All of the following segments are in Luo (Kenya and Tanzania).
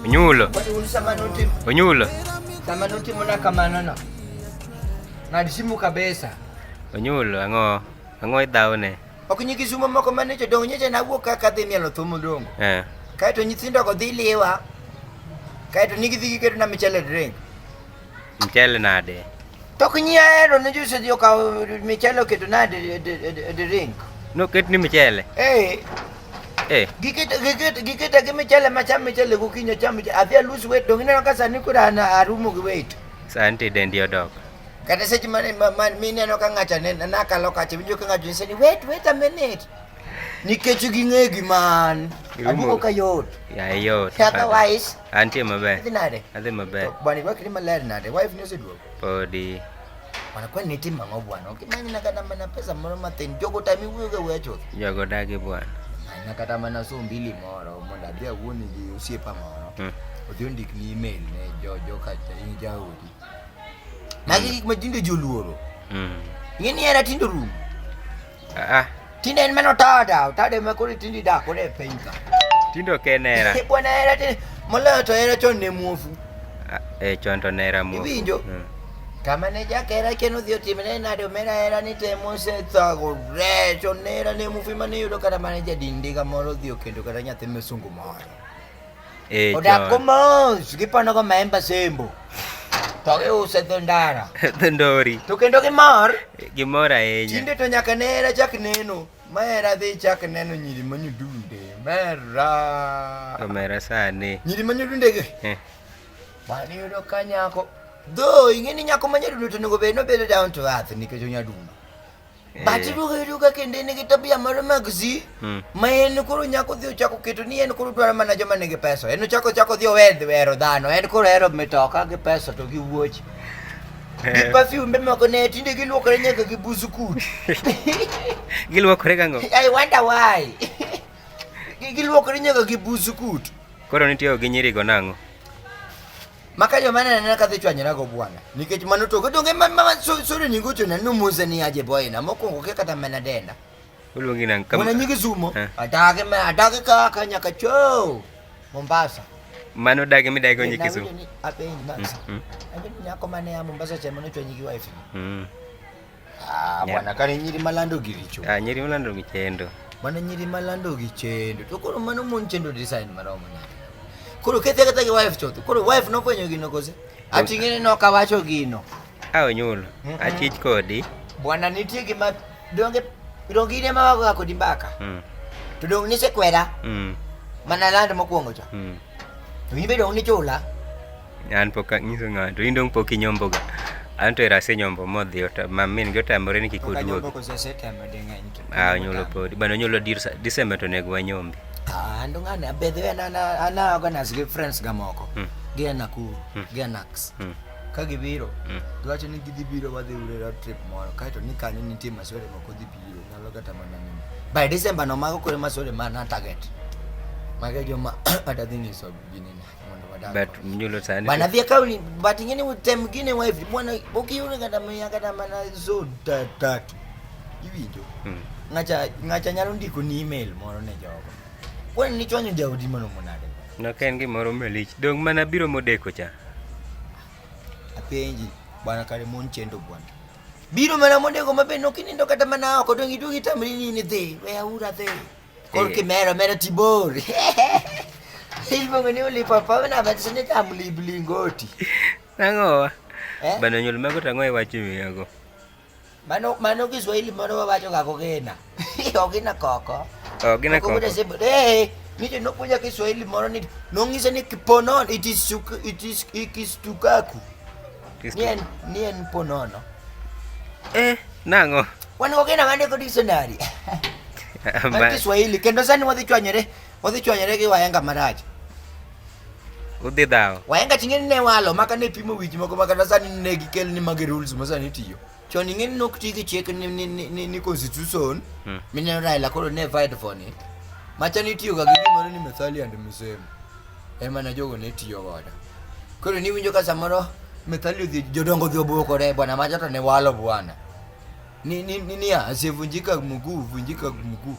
Onyulo. Onyulo. Samanoti muna kamanono. Ng'ad simu kabisa. Onyulo ang'o? Ang'o idhawne? Ok nyi kisumo moko mane to dong nyeche nawuok kaka dhi mielo thum odong. Eh. Kae to nyithindo go dhi liwa. Kae to nigi dhi giketo na michele drink. Mchele nade? To kinyia hero ne jose dio ka michele oketo nade the ring. No ket ni michele. Eh. Eh. Gikit gikit gikit gi michele ma cham michele ku kinya cham michele. Afia lose weight dong ineno ka sani kura na arumo gi weight. Santi dendi odok. Kata seche mane man mi neno ka ng'acha ne na kalo kacha winjo ka ng'acha ni wait wait a minute. Nikech ging'e gi man. Abuko ka yot. Ya yot. Otherwise Antie maber. Adhi nade? Adhi maber. Bwana irwak ni maler nade? Wife ni oseduogo? Podi. Bwana kwani nitim ang'o bwana? Okimany na kata mana pesa moro matin. Jogo tami wuyoga wuya chuth. Jogo dagi bwana. Na kata mana so mbili moro mondo adhi awuoni gi osiepa moro. Hmm. Odhi ondik ni email ne jo jo kacha in jaodi. Magi gik ma jinde joluoro. Mm. Ng'e ni era tindo rum. Ah, Tinde en mano tada, tada ema koro tindi dak koro e piny ka. tindo ok en hera Eh, Bwana hera tinde moloyo to hera chon ne muofu. Ah, eh, chon to ne hera muofu. Iwinjo? Mm. Kama ne jakera ken odhi otimne nade omera hera ni te mosethago re chon ne hera ne muofu ema ne yudo kata mana jadindiga moro odhi okendo kata nyathi misungu moro. Eh, Odak ko mos, gipano ko maemba sembo. To giuse dho ndara. Dho ndori. To kendo gimor. Gimor ahinya. Tinde to nyaka ne era chak neno. Ma era dhi chak neno nyiri manyodunde. Mera. Omera sani. Nyiri manyodunde gi. Eh. Mani yudo ka nyako. Dho, ing'e ni nyako manyadundo to onego bed nobedo down to earth nikech onyadundo. But ruo hiru ga kende ni gitabu ya mara magzi. Hmm. Ma en kuru nyako dhio chako kitu ni en kuru dwara mana joma nigi pesa. En chako chako dhio wedhi wero dhano. En kuru hero mitoka gi pesa to gi wuoch. Eh. Gi perfume ma ko ne tinde gi luokore nyaka gi busu kut. Gi luokore gango. I wonder why. Gi luokore nyaka gi busu kut. Koro nitiyo gi nyiri go nango. Maka joma nanena kadhi chwanyorago bwana nikech mano togo donge sore nyingo chona numuze ni aje boyna mokwongo ke kata mana denda oluongi nang kama mwana nyingi zumo eh. adage ma adage kaka nyaka cho Mombasa mano dage mi dage onye kizu apenyi masa mm, mm. abeni nyako mane ya Mombasa cha mano chwanyi gi wife mm. Ah, Yeah. bwana kane nyiri malando giricho. Ah, nyiri malando gichendo. Mana nyiri malando gichendo. To koro mano mon chendo design maromo nade. Koro kethe kata gi wife chotho. Koro wife nofwenyo gino kose. Ati ng'eni ne ok awacho gino. A onyulo. Mhm. Achich kodi. Bwana nitie gima donge donge ine ma wagoga kodi mbaka. Mm. To donge nisekwera Mm. mana land mokwongo cha. Mm. To in be donge nichula. An pok anyiso ng'ato. In dong pok inyombo ga. An to erase nyombo modhi ota ma min gi otamore ni kik oduog. Ah, nyolo podi. Bana nyolo dirsa December to nego wanyombi. Ah, ndo ng'ane abedhe ana ana ana organize gi friends ga moko. Hmm. Gi ana ku, hmm. gi anax. Hmm. Ka gibiro, hmm. giwacho ni gidhi biro wadhi urera trip moro. Kaito ni kanyo nitie masore moko dhi biro. Nyalo kata mana ni. By December no mago kore masore mana target. Mago joma atadhi nyiso ginene. but mnyulo sana bana vya kauli but nyingine time mwingine wa hivi bwana ukiona kata mya kata mana zo tatu hivi ndio hmm. ngacha ngacha nyalo ndiko ni email moro ne jogo kwa ni chwanyo jaudi mano monade no ken gi moro melich dong mana biro modeko cha apenji bwana kare mon chendo bwana biro mana modeko mabe nokinindo kata mana oko dong idugi tamri ni ni dhi we aura dhi Kol kimero mero tibor. Iluongo ni ulipopop na bet sini tam liblingoti. Nango. Eh? Bana nyul mago tango e wachi miyago. Mano mano Kiswahili moro wawacho ga kogena. Ogina koko. Ogina koko. Eh, mimi nokuja Kiswahili moro ni nongise ni kiponon it is it is it is tukaku. Nien nien po nono. Eh, nango. Wan go gina mane ko dictionary. Ma Kiswahili kendo sani wadhi chwanyore, wadhi chwanyore gi wahenga marach. Udhi dhawo. Wahenga chingeni ne walo maka ne pimo wiji moko maka na sani ne gikel ni magi rules ma sani tiyo. Chon ingeni nok ti gi chik ni ni ni, ni constitution. Hmm. Mineno Raila koro ne fight for ni. Machani tiyo ga gi gimoro ni methali and misemo. emana jogo ne tiyo godo. Koro niwinjo ka samoro methali odhi jodongo odhi obwokore bwana macha to ne walo bwana. Ni ni ni niya asevunjika mguu vunjika mguu.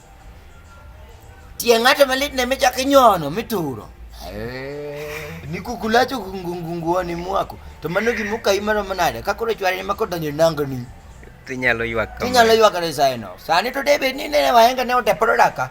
Tie ng'ato malit ne michak inyono mituro. Eh, ni kukulacho kungungunguoni mwako. To mano gima ukayi mano manade ka koro chwari ma kodonjo nango ni. Tinyalo ywak kama. Tinyalo ywak resaino. Sani to debe ni ne wahenga ne oteporo daka.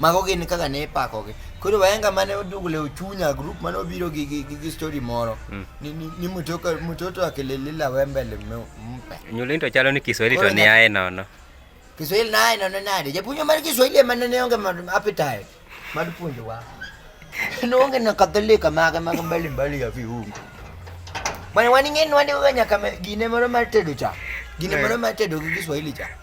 Mago gin kaka ne ipakogi. Koro wahenga mane odugle ochunya group mane obiro gi gi, gi, gi story moro mm. ni, ni, ni mtoto mtoto akililila wembele mpe. Nyulinto chalo ni Kiswahili to ni aye nono. Kiswahili naye nono nade. Japuonjo mar Kiswahili ema ne onge appetite mar puonjowa. Noonge na katholika mage mag mbali mbali ya viungo. Bwana waning'eni wandiwaga nyaka gine moro mar tedo cha. Gine moro mar tedo gi Kiswahili cha.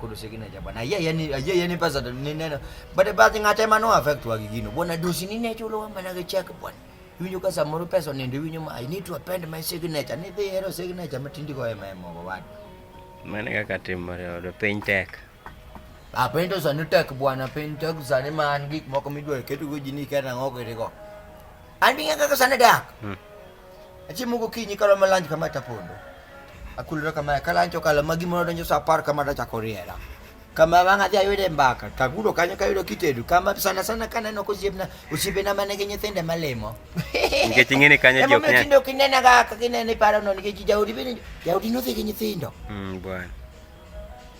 kudu sikina cha bwana yeye yani yeye yani pesa ni neno but but ngate mano affect wa gigino bwana dosi ni necho lo wamba na check bwana winyo ka samoro pesa nende winyo ma i need to append my signature ni dhi hero signature matindi ko ema ema wa mane kaka timore odo piny tek a piny to sani tek bwana piny tek sani ma an gik moko midwa keto go jini kata ng'o kete go an bi ng'e kaka sani dak hmm. Achiemo gokinyi kalo malanj kama tapondo. Akulra kama kalancho kala magi mono donjo sa apar kama tachako riera. Kama wang' adhi ayude mbaka, tagudo kanyo kayudo kitedo. Kama sana sana kaneno kosiepna, osiepena ma nigi nyithinde malimo. Nikech ing'e ni kanyo ji ok Emomiyo nyal. tinde ok inena ga kaka ineno iparo no nikech jaodi bende jaodi nodhi gi nyithindo. Mm, bwana.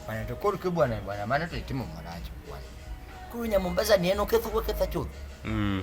Bwana to koro ke bwana bwana mano to itimo marach bwana. Koro nya Mombasa ni en oketho oketha chuth. Mm.